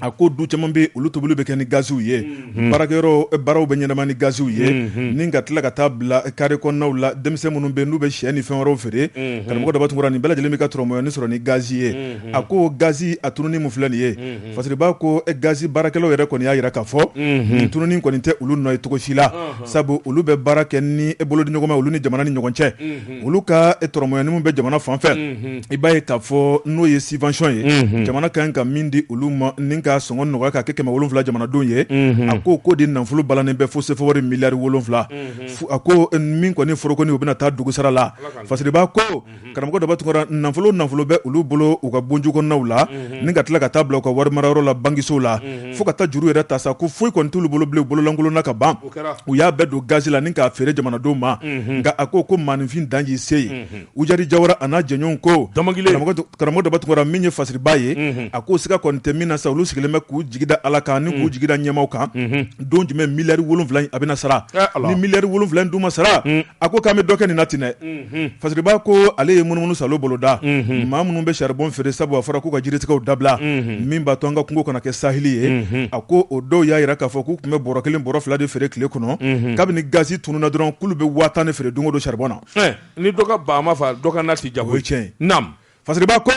a ko du caman bɛ olu tobili bɛ kɛ ni gaziw ye Mhm. baarakɛyɔrɔ baaraw bɛ ɲɛnama ni gaziw ye mhm. ni ka tila ka taa bila kare kɔnɔnaw la denmisɛn minnu bɛ n'u bɛ sɛ ni fɛn wɛrɛw feere mhm. karamɔgɔ Daba Tunkara nin bɛɛ lajɛlen bɛ ka dɔrɔmɛ yɔrɔnin sɔrɔ ni gazi ye a ko gazi a tununni min filɛ nin ye fasiriba ko eh, gazi baarakɛlaw yɛrɛ kɔni y'a jira k'a fɔ nin tununni kɔni tɛ olu nɔ ye cogo si la sabu olu bɛ baara kɛ ni bolodiɲɔgɔnma olu ni jamana ni ɲɔgɔn cɛ olu ka dɔrɔmɛ yɔrɔnin min bɛ jamana fan fɛ i b'a ye k'a fɔ n'o ye subvention ye jamana ka kan ka min di olu ma ni ka sɔngɔ nɔgɔya k'a kɛ kɛmɛ wolonwula jamanadenw ye a ko k'o de nafolo balanen bɛ fo sefawari miliyari wolonwula a ko min kɔni foro kɔni u bɛna taa dugu sara la fasiriba ko karamɔgɔ Daba Tunkara nafolo o nafolo bɛ olu bolo u ka bonju kɔnɔnaw la ni ka tila ka taa bila u ka wari marayɔrɔ la bankisow la fo ka taa juru yɛrɛ ta sa ko foyi kɔni t'olu bolo bilen bololankolon na ka ban, o kɛra, u y'a bɛɛ don gazi la ni k'a feere jamanadenw ma, unhun, nka a ko ko maaninfin dan y'i se ye, unhun, Ujari Jawara a n'a jɛɲɔgɔnw ko, Dɔmɔgile, karamɔgɔ Daba Tunkara min ye fasiriba ye, unhun, a ko siga kɔni tɛ min na sa olu sigilen bɛ k'u jigi da Ala kan ani k'u jigi da ɲɛmaaw kan, unhun, don jumɛn miliyari wolonwula in a bɛna sara, ɛɛ Ala, ni miliyari wolonwula in dun ma sara, un, a ko k'an bɛ dɔ kɛ nin na ten dɛ fasiriba ko ale ye munumunusaalo boloda maa minnu bɛ saribon feere sabu a fɔra k'u ka jiritigɛw dabila min b'a to an ka kungo kana kɛ saheli ye a ko o dɔw y'a jira k'a fɔ k'u tun bɛ bɔrɔ kelen bɔrɔ fila de feere tile kɔnɔ kabini gazi tununna dɔrɔn k'olu bɛ waa tan de feere don o don saribon na ni dɔ ka ba ma faa dɔ ka na tɛ diya Fasiriba ko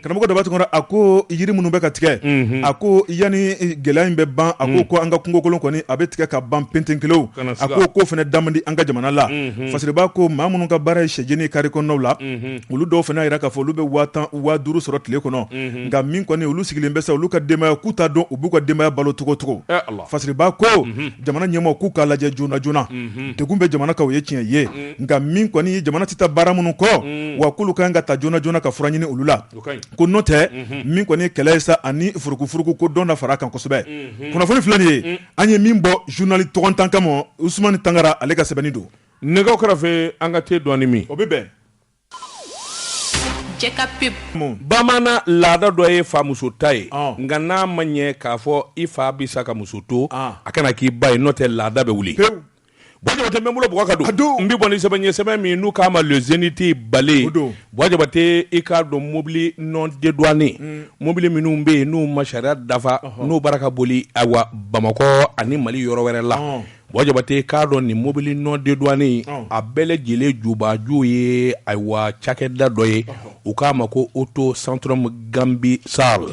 karamɔgɔ daba tun a ko yiri minnu bɛ ka tigɛ a ko yanni gɛlɛya in bɛ ban a ko ko an ka kungokolon kɔni a bɛ tigɛ ka ban penten kelen a ko ko fana da man di an ka jamana la Fasiriba ko maa minnu ka baara ye sɛjeni kari kɔnɔnaw la olu dɔw fana y'a yira k'a fɔ olu bɛ waa tan waa duuru sɔrɔ tile kɔnɔ nka min kɔni olu sigilen bɛ sa olu ka denbaya k'u t'a dɔn u b'u ka denbaya balo cogocogo Fasiriba ko jamana ɲɛmaaw k'u k'a lajɛ joona joona degun bɛ jamana kan o ye tiɲɛ ye nka min kɔni ye jamana tɛ taa baara minnu kɔ wa k'olu ka kan ka ta joona joona ka fura ɲini olu la ko n'o tɛ min kɔni ye kɛlɛ ye sa ani furukufuruku ko dɔ na fara a kan kosɛbɛ kunnafoni filɛ nin ye an ye min bɔ journal tɔgɔntan kama Usumani Tangara ale ka sɛbɛnni don nɛgɛw kɛrɛfɛ an ka te dɔɔni min o bɛ bɛn. Bamanan laada dɔ ye fa muso ta ye nka n'a ma ɲɛ k'a fɔ i fa bɛ sa ka muso to a kana k'i ba ye n'o tɛ laada bɛ wuli Buwa Jabate n bɛ bolo bɔ k'a don n bɛ bɔ ni sɛbɛn ye sɛbɛn min n'u k'a ma le Zénith Balé Buwa Jabate i k'a dɔn mobili non dédouané mobili minnu bɛ yen n'u ma sariya dafa n'u b'a la ka boli ayiwa bamakɔ ani mali yɔrɔ wɛrɛ la Buwa Jabate k'a dɔn nin mobili non dédouané a bɛɛ lajɛlen jubaju ye ayiwa cakɛda dɔ ye u k'a ma ko Auto Centrum Ganbi SARL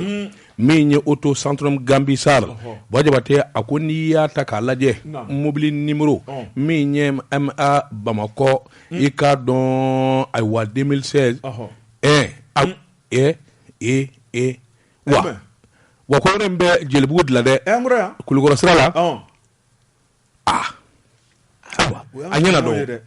min ye Auto Centrum Ganbi SARL Buwa Jabate a ko n'i y'a ta k'a lajɛ mobili numéro min ye MA bamakɔ i k'a dɔn ayiwa deux mille seize ɛ e e wa wa ko bɛ jelibugu de la dɛ kulukɔrɔ sira la a ɲɛna dɔn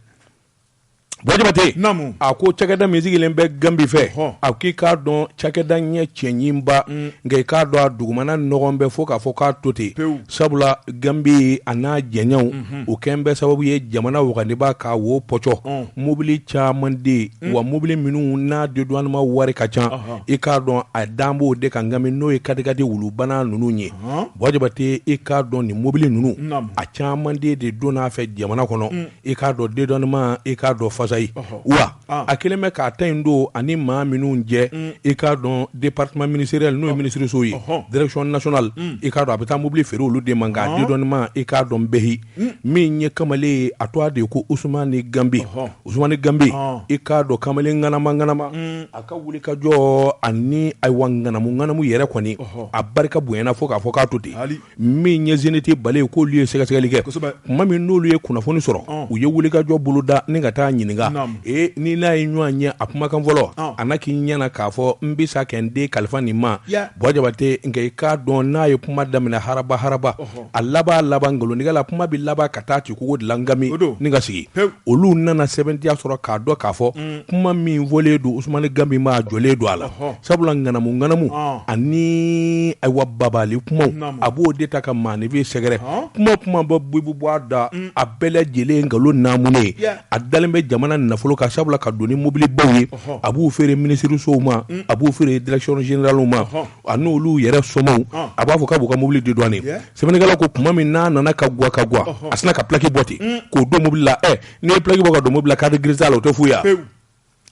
Buwa Jabate a ko cakɛda min sigilen bɛ ganbi fɛ a ko i k'a dɔn cakɛda ɲɛ cɛɲinba nka i k'a dɔn a dugumana nɔgɔn bɛ fo k'a fɔ k'a to ten sabula ganbi a n'a jɛɲɔgɔnw o kɛn bɛ sababu ye jamana wagandeba k'a wo pɔcɔ mobili caman de wa mobili minnu n'a dédouanement wari ka ca i k'a dɔn a dan b'o de kan ganbi n'o ye katikati wulubana ninnu ye Buwa Jabate i k'a dɔn nin mobili ninnu a caman de donna a fɛ jamana kɔnɔ i k'a dɔn dédouanement i k'a dɔn fasayi wa a kelen bɛ k'a ta in don ani maa minnu jɛ i k'a dɔn département ministériel n'o ye minisiriso ye direction nationale i k'a dɔn a bɛ taa mobili feere olu de ma nka dédouanement i k'a dɔn bɛɛyi hmm. min ye kamalen ye a tɔgɔ de ye ko Usumani Ganbi Usumani Ganbi i k'a dɔn kamalen ŋanama ŋanama hmm. a ka wuli ka jɔ ani ayiwa ŋanamu ŋanamu yɛrɛ kɔni a barika bonyana fo k'a fɔ k'a to ten min ye Zénith Balé ye k'olu ye sɛgɛsɛgɛli kɛ tuma min n'olu ye kunnafoni sɔrɔ u ye wuli ka jɔ bolo da ni ka taa ɲininka ee ni n'a ye ɲɔgɔn ye a kumakan fɔlɔ a na k'i ɲɛna k'a fɔ n bɛ sa kɛ n den kalifa nin ma Buwa Jabate nka i k'a dɔn n'a ye kuma daminɛ haraba haraba a laban laban nkalontigɛla kuma bɛ laban ka taa ci kogo de la kami ni ka sigi olu nana sɛbɛntiya sɔrɔ k'a dɔn k'a fɔ kuma min fɔlen don usumani ganbi ma jɔlen don a la sabula ŋanamuŋanamu ani ayiwa babali kumaw a b'o de ta ka maaninfin sɛgɛrɛ kuma kuma bɛ bɔ bɛ bɔ a da a bɛɛ lajɛlen nkalon namu ye a dalen bɛ jamana nafolo kan sabula ka don ni mobilibaw ye a b'u feere minisirisow ma a b'u feere direction générale ma a n'olu yɛrɛ somaw ah. a b'a fɔ k'a b'u ka mobili dédouaner sɛbɛnnikɛla ko tuma min n'a nana ka guwa ka guwa a sina ka plaki bɔ ten mm. k'o don mobili la ɛ eh, n'i ye plaki bɔ ka don mobili la carte grise t'a la o tɛ fu ye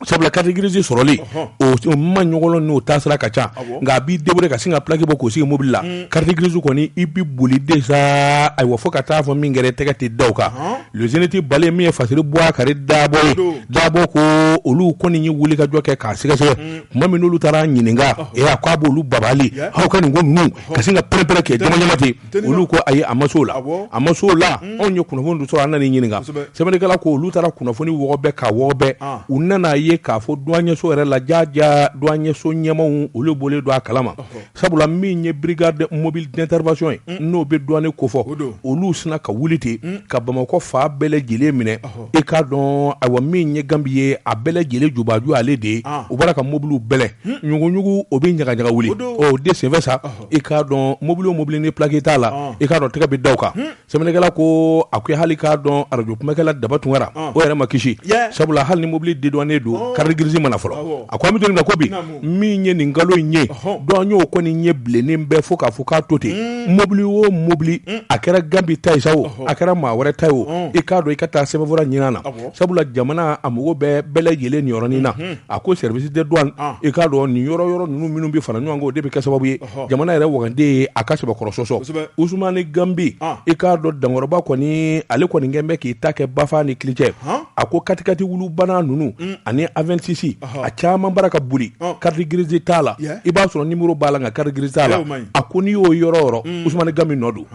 sabula carte grise sɔrɔli o man nɔgɔn o taasira ka ca nka a b'i débrouiller ka sin ka plaki bɔ k'o sigi mobili la mm. carte grise kɔni i bi boli déjà ayiwa fo ka taa fɔ min kɛra tɛgɛ tɛ da o kan le zénith bale min ye fasiri bubakari dabɔ ye dabɔ ko olu kɔni ye wulikajɔ kɛ k'a sɛgɛsɛgɛ mm. tuma min olu taara ɲininka a ko a b'olu babali aw ka nin ko ninnu ka sin ka pɛrɛnpɛrɛn kɛ ɲamaɲama ten olu ko ayi a ma s'o la a ma s'o la anw ye kunnafoni dɔ sɔrɔ an nana ɲininka sɛbɛnnikɛla ko olu taara kunnafoni wɔgɔbɛ k'a wɔgɔbɛ u nana a ye k'a fɔ duwaɲɛso yɛrɛ la jaja duwaɲɛso ɲɛmaaw olu bɔlen don a kalama Sabula min ye brigade mobile d'intervention ye n'o bɛ douane kofɔ olu sina ka wuli ten ka bamakɔ fan bɛɛ lajɛlen minɛ i k'a dɔn ayiwa min ye ganbi ye a bɛɛ lajɛlen jubaju ale de ye u bara ka mɔbiliw bɛlɛ ɲuguɲugu o bɛ ɲagaɲaga wuli o de senfɛ sa i k'a dɔn mɔbili o mɔbili ni plaki t'a la i k'a dɔn tɛgɛ bɛ da o kan sɛbɛnnikɛla ko a ko hali k'a dɔn arajo kumakɛla daba tunkara o yɛrɛ ma kisi sabula hali ni mobili dédouané don carte grise ma na fɔlɔ a ko an bɛ don min na ko bi min ye nin nkalon in ye dɔn y'o kɔni ɲɛ bilennen bɛɛ fo k'a fɔ k'a to ten mɔbili o mɔbili a kɛra ganbi ta ye sa o a kɛra maa wɛrɛ ta ye o i k'a dɔn i ka taa sɛbɛnfura ɲini na sabula jamana a mago bɛɛ bɛɛ lajɛlen nin yɔrɔnin na a ko service de douane i k'a dɔn nin yɔrɔ yɔrɔ ninnu minnu bɛ fara ɲɔgɔn kan o de bɛ kɛ sababu ye jamana yɛrɛ wagande ye a ka sɛbɛkɔrɔ sɔsɔ usumani ganbi i k'a dɔn dankɔrɔba kɔni ale kɔni kɛlen bɛ k'i ta kɛ bafa ni kilicɛ a ko katikati wulubanna ninnu ani avensis a caman bara ka boli carte grise t'a la i b'a sɔrɔ nimɔrɔ b'a la nka carte grise t'a la a ko n'i y'o yɔrɔ yɔrɔ usumani ganbi nɔ don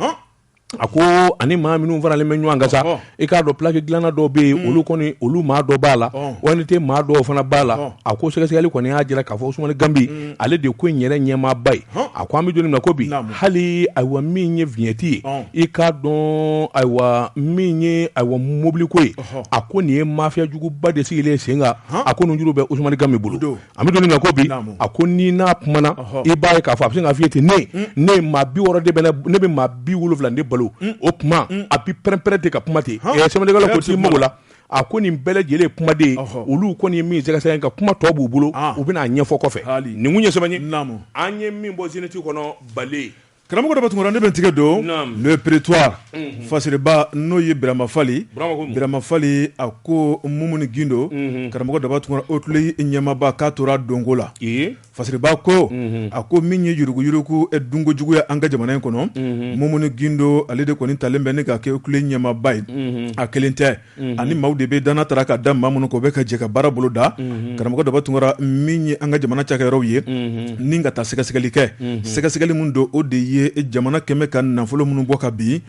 a ko ani maa minnu faralen bɛ ɲɔgɔn kan sa i k'a dɔn plaki dilanna dɔ bɛ yen olu kɔni olu maa dɔ b'a la ONT maa dɔw fana b'a la a ko sɛgɛsɛgɛli kɔni y'a jira k'a fɔ usumani ganbi ale de ko in yɛrɛ ɲɛmaaba ye a ko an bɛ don min ko bi hali ayiwa min ye viɲɛti ye i k'a dɔn ayiwa min ye ayiwa mɔbiliko ye a ko nin ye mafiya juguba de sigilen sen kan a ko ninnu juru bɛ usumani ganbi bolo an bɛ don min ko bi a ko ni n'a kumana i b'a ye k'a fɔ a bɛ se k'a f'i ye ten ne ne ye maa bi wɔɔrɔ de bɛ ne bɛ maa bi wolowula de balo o tuma a bi pɛrɛnpɛrɛn ten ka kuma ten sɛbɛnnikɛla ko t'i mako la a ko nin bɛɛ lajɛlen kumaden olu kɔni ye min sɛgɛsɛgɛ nka kuma tɔ b'u bolo u bɛna a ɲɛfɔ kɔfɛ ninnu ye sɛbɛnni ye an ye min bɔ zénith kɔnɔ bale Karamɔgɔ daba tunkara ne bɛ tigɛ don le prétoire fasiriba n'o ye birama fali birama fali a ko mumuni gindo karamɔgɔ daba tunkara OCLEI ɲɛmaaba k'a tora donko la fasiriba ko a ko min ye yuruguyurugu dunko juguya an ka jamana in kɔnɔ mumuni gindo ale de kɔni talen bɛ ni ka kɛ OCLEI ɲɛmaaba ye a kelen tɛ ani maaw de bɛ danna tara ka da maa minnu kan u bɛ ka jɛ ka baara bolo da karamɔgɔ daba tunkara min ye an ka jamana cakɛyɔrɔw ye ni ka taa sɛgɛsɛgɛli kɛ sɛgɛsɛgɛli min don o de ye jamana kɛmɛ ka nafolo minnu bɔ ka bin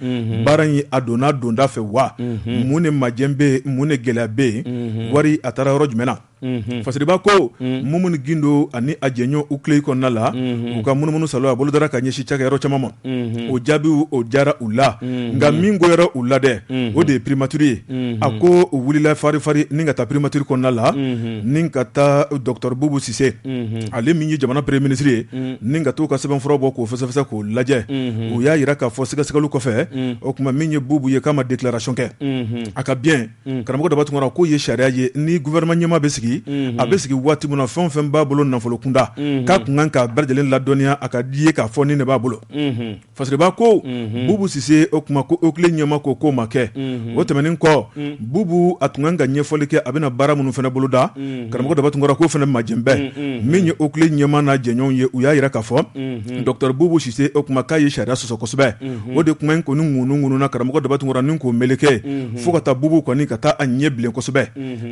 baara in a donna donda fɛ wa mun ne majɛ bɛ yen mun ne gɛlɛya bɛ yen wari a taara yɔrɔ jumɛn fasiriba ko mumuni gindo ani a jɛɲɔgɔn OCLEI kɔnɔna la u ka munumunu saalo a bolo dara ka ɲɛsin cakɛyɔrɔ caman ma o jaabiw o diyara u la nka min goyara u la dɛ o de ye primature ye a ko u wulila farifari ni ka taa primature kɔnɔna la ni ka taa docteur bubu sise ale min ye jamana premier ministre ye ni ka taa u ka sɛbɛnfura bɔ k'o fɛsɛfɛsɛ k'o lajɛ u y'a jira k'a fɔ sɛgɛsɛgɛli kɔfɛ o tuma min ye bubu ye k'a ma déclaration kɛ a ka biens karamɔgɔ daba tunkara k'o ye sariya ye ni gouvernement ɲɛmaa bɛ sigi a bɛ sigi waati min na fɛn o fɛn b'a bolo nafolo kunda k'a kun kan k'a bɛɛ lajɛlen ladɔnniya a ka di ye k'a fɔ nin de b'a bolo fasiriba ko bubu sise o tuma OCLEI ɲɛmaa ko k'o ma kɛ o tɛmɛnen kɔ bubu a tun kan ka ɲɛfɔli kɛ a bɛna baara minnu fana boloda karamɔgɔ daba tunkara k'o fana majɛ bɛ yen min ye OCLEI ɲɛmaa n'a jɛɲɔgɔnw ye u y'a jira k'a fɔ docteur bubu sise o tuma k'a ye sariya sɔsɔ kosɛbɛ o de kuma in kɔni ŋunuŋununa karamɔgɔ daba tunkara ni k'o meleke fo ka taa bubu kɔni ka taa a ɲɛ bilen kosɛbɛ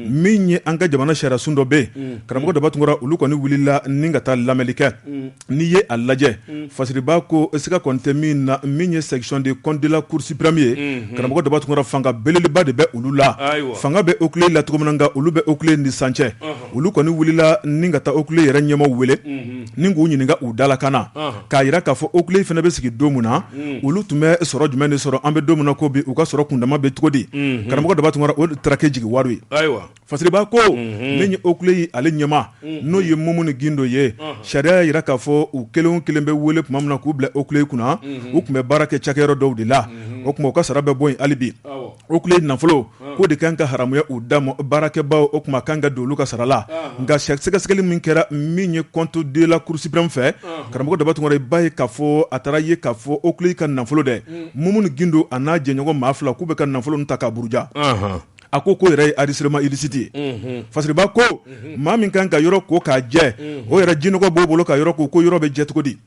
min ye an ka jamana sariya sun dɔ bɛ yen karamɔgɔ daba tunkara olu kɔni wulila ni ka taa lamɛnli kɛ n'i ye a lajɛ fasiriba ko siga kɔni tɛ min na min ye section des comptes de la cour suprême ye karamɔgɔ daba tunkara fanga belebeleba de bɛ olu la fanga bɛ OCLEI la cogo min na nka olu bɛ OCLEI ni sancɛ olu kɔni wulila ni ka taa OCLEI yɛrɛ ɲɛmaaw wele ni k'u ɲininka u dalakan na k'a jira k'a fɔ OCLEI fana bɛ sigi don min na olu tun bɛ sɔrɔ jumɛn de sɔrɔ an bɛ don min na ko bi u ka sɔrɔ kundama bɛ cogo di karamɔgɔ daba tunkara o taara kɛ jigiwaaro ye fasiriba ko min ye OCLEI ale ɲɛmaa n'o ye mumuni gindo ye sariya y'a jira k'a fɔ u kelen o kelen bɛ wele tuma min na k'u bila OCLEI kunna u tun bɛ baara kɛ cakɛyɔrɔ dɔw de la o tuma u ka sara bɛ bɔ yen hali bi OCLEI nafolo k'o de kan ka haramuya u da ma baarakɛbaw o tuma kan ka don olu ka sara la nka sɛgɛsɛgɛli min kɛra min ye comptes de la cour suprême fɛ karamɔgɔ daba tunkara i b'a ye k'a fɔ a taara ye k'a fɔ OCLEI ka nafolo dɛ mumuni gindo a n'a jɛɲɔgɔn maa fila k'u bɛ ka nafolo nin ta k'a buruja a ko ko yɛrɛ ye enrichissement illicite ye fasiriba ko maa min kan ka yɔrɔ ko k'a jɛ o yɛrɛ ji nɔgɔ b'o bolo ka yɔrɔ ko ko yɔrɔ bɛ jɛ cogo di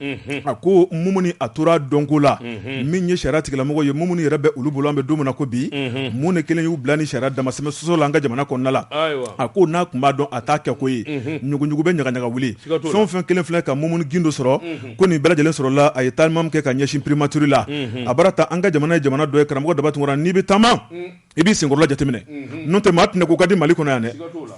a ko mumuni a tora dɔnko la min ye sariya tigilamɔgɔ ye mumuni yɛrɛ bɛ olu bolo an bɛ don min na ko bi mun de kelen y'u bila ni sariya dama sɛmɛ sɔsɔ la an ka jamana kɔnɔna la a ko n'a tun b'a dɔn a t'a kɛ ko ye ɲuguɲugu bɛ ɲagaɲaga wuli fɛn o fɛn kɛlen filɛ ka mumuni gindo sɔrɔ ko nin bɛɛ lajɛlen sɔrɔla a ye taama kɛ ka ɲɛsin primature la a bara taa an ka jamana ye jamana dɔ ye karamɔgɔ daba tunkara n'i bɛ taama i b'i senkɔrɔla jateminɛ n'o tɛ maa tiɲɛ ko ka di mali kɔnɔ yan dɛ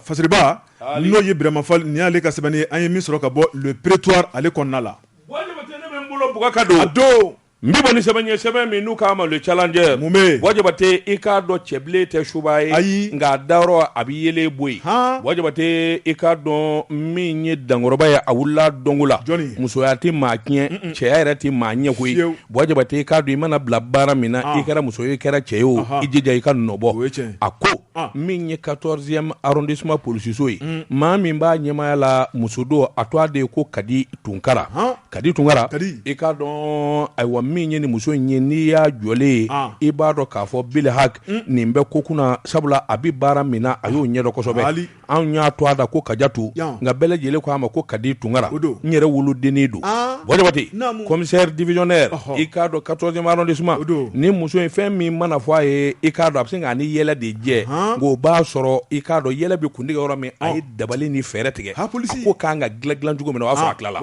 fasiriba n'o ye birama fall nin y'ale ka sɛbɛnni ye an ye min sɔrɔ ka bɔ le prétoire ale kɔnɔna la wa jabatɛ ka don a don n bɛ bɔ ni sɛbɛn ye sɛbɛn min n'u k'a ma le challenger mun bɛ yen wa jabatɛ i k'a dɔn cɛbilen tɛ suba ye ayi nka a dayɔrɔ a bɛ yeelen bɔ yen ha wa jabatɛ i k'a dɔn min ye dankɔrɔba ye a wulila dɔnko la musoya tɛ maa tiɲɛ cɛya yɛrɛ tɛ maa ɲɛ koyi ye Wa jabatɛ i k'a dɔn i mana bila baara min na i kɛra muso ye i kɛra cɛ ye o i jija i ka nɔbɔ a ko min ye quatorzième arrondissement polisiso ye maa min b'a ɲɛmaya la muso don a tɔgɔ de ye ko kadi tunkara kadi tunkara i k'a dɔn ayiwa min ye nin muso in ye n'i y'a jɔlen ye i b'a dɔn k'a fɔ bil haq nin bɛ ko kunna sabula a bɛ baara min na a y'o ɲɛdɔn kosɛbɛ anw y'a tɔgɔ da ko kajatu nka bɛɛ lajɛlen ko a ma ko kadi tunkara n yɛrɛ wolodennin don wa jabatɛ commissaire divisionnaire i k'a dɔn quatorzième arrondissement nin muso in fɛn min mana fɔ a ye i k'a dɔn a bɛ se k'a ni yɛlɛ de jɛ nka o b'a sɔrɔ i k'a dɔn yɛlɛ bɛ kuntigɛ yɔrɔ min a ye dabali ni fɛɛrɛ tigɛ a ko kan ka dilan dilan cogo min na o y'a sɔrɔ a tilala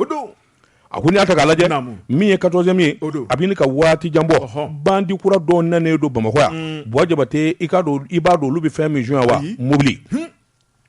a ko n'i y'a ta k'a lajɛ min ye quatorzième ye a bɛ ɲini ka waati jan bɔ bandi kura dɔw nanen don bamakɔ yan wa jabatɛ i i b'a dɔn olu bɛ fɛn min suɲɛ wa mobili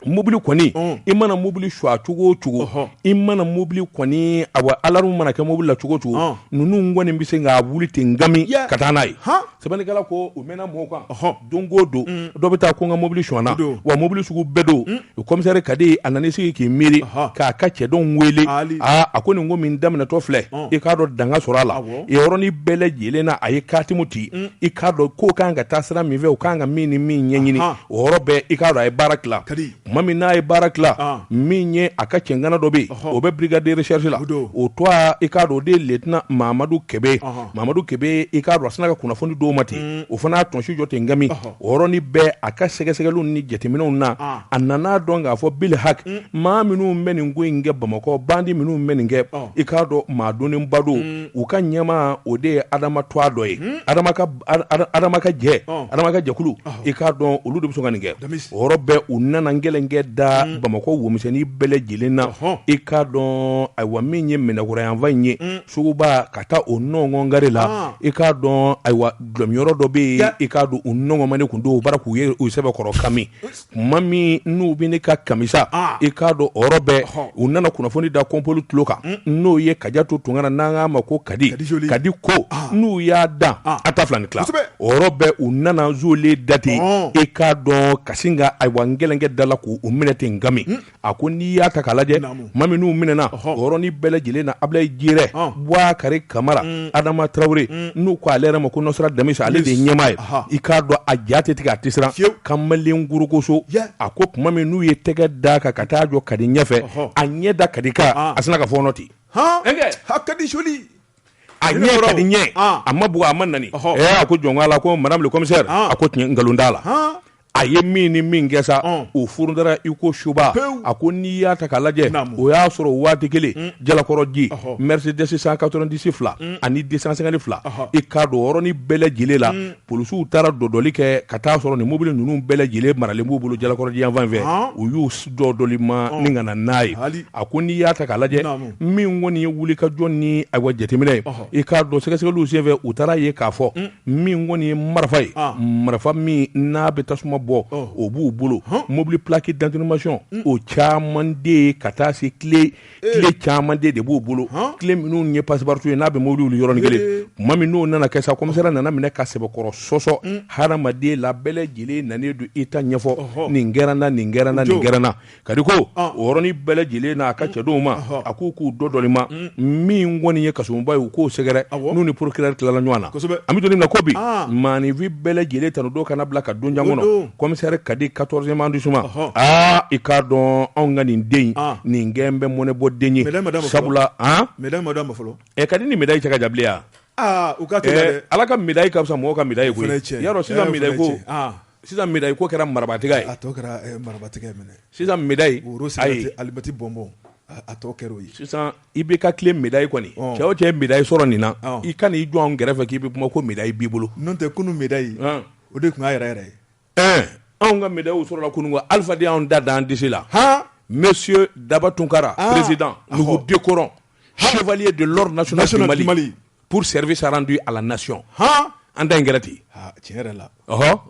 mobili kɔni i mana mobili sɔgɔ cogo o cogo i mana mobili kɔni a wa alarme mana kɛ mobili la cogo o cogo ninnu kɔni bɛ se k'a wuli ten nkami ka taa n'a ye Sɛbɛnnikɛla ko u mɛnna mɔgɔw kan ɔhɔn don o don unnn dɔ bɛ taa ko n ka mobili sonyana o don wa mobili sugu bɛɛ don unh o commissaire Kadi a nan'i sigi k'i miiri ɔhɔɔ k'a ka cɛdenw weele aali aa a ko nin ko min daminɛtɔ filɛ ɔɔn i k'a dɔn dan ka sɔrɔ a la awɔ yen yɔrɔnin bɛɛ lajɛlen na a ye katimugu ci unh i k'a dɔn ko kan ka taa sira min fɛ u kan ka min ni min ɲɛɲini anhan o yɔrɔ bɛɛ i k'a dɔn a ye baara tila Kadi tuma min n'a ye baara tila ah. min ye a ka cɛŋana dɔ bɛ yen o bɛ brigade de recherche la o tɔgɔ i k'a dɔn o de ye lieutenant mamadu kebe mamadu kebe i k'a dɔn a sina ka kunnafoni di o ma ten mm. o fana y'a tɔnsi jɔ ten nkami o yɔrɔnin bɛɛ a ka sɛgɛsɛgɛli ni jateminɛw na ah. a nan'a dɔn k'a fɔ bil haq mm. maa minnu bɛ nin ko in kɛ bamakɔ bandi minnu bɛ nin kɛ i k'a dɔn maa dɔnnenba don mm. u ka ɲɛmaa o de ye adama tɔgɔ dɔ ye jɛkulu i k'a dɔn olu de bɛ sɔn ka nin kɛ o yɔrɔ bɛɛ u nana gɛlɛnkɛ da bamakɔ womisɛnnin bɛɛ lajɛlen na i k'a dɔn ayiwa min ye minɛkura yanfan in ye suguba ka taa o nɔnkɔn gare la i k'a dɔn ayiwa dɔlɔminyɔrɔ dɔ bɛ yen i k'a dɔn u nɔnkɔnmanen tun don o bara k'u ye u sɛbɛkɔrɔ kami Tuma min n'u bɛ ne ka kamisa i k'a dɔn o yɔrɔ bɛɛ u nana kunnafoni da kɔnpɔli tulo kan n'o ye Kadiatu Tunkara n'an k'a ma ko kadi kadi ko n'u y'a da a ta filan ni tila o yɔrɔ bɛɛ u nana zolilen date i k'a dɔn ka sin ka ayiwa n kelenkɛ da la k' u minɛ ten ngami a ko n'i y'a ta k'a lajɛ tuma min n'u minɛna o yɔrɔnin bɛɛ lajɛlen na Abilayi Jirɛ Buwakari Kamara mm. Adama Traoré mm. n'u ko ale yɛrɛ ma ko Nɔsira Damisa ale de ye ɲɛmaa ye i k'a dɔn a ja tɛ tigɛ a tɛ siran kamalen gorogoso a ko tuma min n'u ye tɛgɛ da kan ka taa jɔ Kadi ɲɛfɛ a ɲɛ da Kadi kan ah. a sinna ka fɔɔnɔ ten Kadi soli a ɲɛ Kadi ɲɛ ah. a ma bugɔ a ma nɛni a ko jɔn' la ko madame le commissaire a ko nkalon t'a la a ye min ni min kɛ sa o furu dara i ko suba a ko n'i y'a ta k'a lajɛ o y'a sɔrɔ waati kelen jalakɔrɔji Mercedes 190 fila ani 250 fila i k'a dɔn o yɔrɔnin bɛɛ lajɛlen la polisiw taara dɔdɔli kɛ ka taa a sɔrɔ nin mobili ninnu bɛɛ lajɛlen maralen b'u bolo jalakɔrɔji yanfan fɛ u y'u dɔdɔli ma ni ka na n'a ye a ko n'i y'a ta k'a lajɛ min kɔni ye wulikajɔ ni a jateminɛ ye i k'a dɔn sɛgɛsɛgɛliw senfɛ u taara ye k'a fɔ min kɔni ye marifa ye marifa min n'a bɛ tasuma bɔ o b'u bolo mobili plaques d'immatriculation o caman de ye ka taa se kile caman de b'u bolo kile minnu ye passe-partout ye n'a bɛ mobili wuli yɔrɔnin kelen tuma min n'o nana kɛ sa kɔmisɛri nana minɛ ka sɛbɛkɔrɔ sɔsɔ hadamaden la bɛɛ lajɛlen nalen don i ta ɲɛfɔ nin kɛra n na nin kɛra n na nin kɛra n na Kadi ko o yɔrɔnin bɛɛ lajɛlen n'a ka cɛdenw ma a k'u k'u dɔdɔli ma min kɔni ye kasoba ye u k'o sɛgɛrɛ n'u ni procureur tilala ɲɔgɔn na an bɛ don min na ko bi maaninfin bɛɛ lajɛlen tanu don kana bila ka don jan kɔnɔ kɔmisɛri Kadi 14e arrondissement aa i k'a dɔn anw ka nin den nin gɛn bɛ mɔnɛ bɔ den ye sabula fɔlɔ ɛ Kadi ni médaille cɛ ka jan bi yan u Ala ka médaille ka fisa mɔgɔw ka médaille cɛ Sisan médaille ko kɛra marabaatiga ye, a tɔ kɛra marabaatiga ye, sisan médaille woro sira tɛ alimɛti bɔnbɔn a tɔ kɛra o ye, sisan IBK tile médaille kɔni cɛ o cɛ ye médaille sɔrɔ nin na i ka n'i jɔ an kɛrɛfɛ k'i bɛ kuma ko médaille b'i bolo, n'o tɛ kunun médaille o de tun y'a yɛrɛ yɛrɛ ye, ɛɛ anw ka médailles sɔrɔla kunun koyi, Alifa de y'anw ta da an disi la, han, Monsieur Daba Tunkara président nous vous décorons chevalier de l'ordre national du Mali pour service rendu à la nation han an ta in kɛra ten ah, tiɲɛ yɛrɛ la ɔhɔ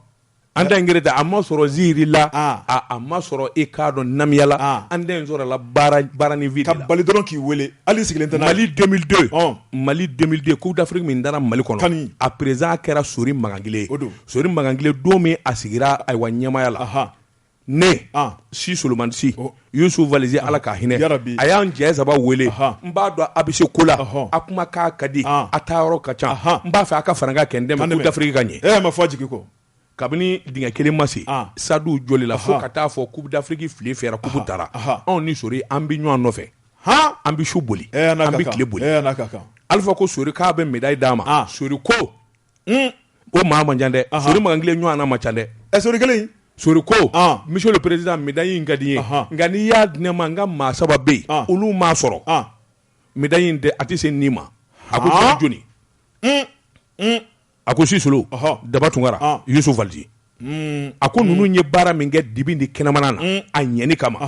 an ta in kɛra ten a ma sɔrɔ ziiri la ah. a a ma sɔrɔ i k'a dɔn namiya la ah. an ta in sɔrɔla baara baara ni vide la ka bali dɔrɔn k'i wele hali sigilen tɛ mali 2002 ɔn mali 2002 coupe d'afrique min dara mali kɔnɔ kani a président kɛra sori magangile ye sori magangile don min a sigira ayiwa ɲɛmaya la ne si solomani si yusu valizi ala ka hinɛ a y'an cɛ saba wele n b'a dɔn a bɛ se ko la a kuma k'a ka di a taa yɔrɔ ka ca n b'a fɛ a ka fara n kan ka n dɛmɛ coupe d'afrique ka ɲɛ e ma fɔ jigin kɔ kabini dingɛ kelen ma sen stade jɔli la fo ka t'a fɔ coupe d'afrique file fyɛra coupe taara anw ni sori an bɛ ɲɔgɔn nɔfɛ h an bɛ su boli an bɛ tile boli alifa ko sori k'a bɛ médaille d'a ma sori ko un, o maa man ca dɛ sori makangile ɲɔgɔn na man ca dɛ ɛ sori kelen sori ko ah. monsieur le président médaille in ka di n ye nka n'i y'a di ne ma n ka maa saba bɛ yen olu m'a sɔrɔ médaille in tɛ a tɛ se nin ma a ko jɔni jɔni un, un. a ko si solo daba tunkara yusu valizi hmm. a ko ninnu ye baara min kɛ dibi ni kɛnɛmana na hmm. a ɲɛni kama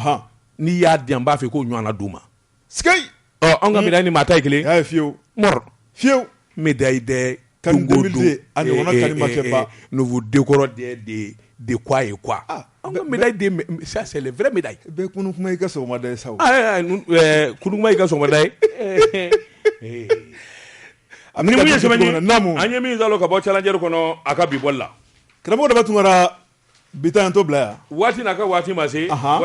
n'i y'a di an b'a fɛ k'o ɲɔgɔnna d'u ma an ka médaille ni maa ta kelen ye fiyewu fiyewu bɛ da i dɛ ka den kɔrɔ de a ye sa da yema an ye min ka bɔ challenger kɔnɔ a ka bi bɔli la karamɔgɔ daba tunkara bi ta bila yan waati n'a ka waati ma se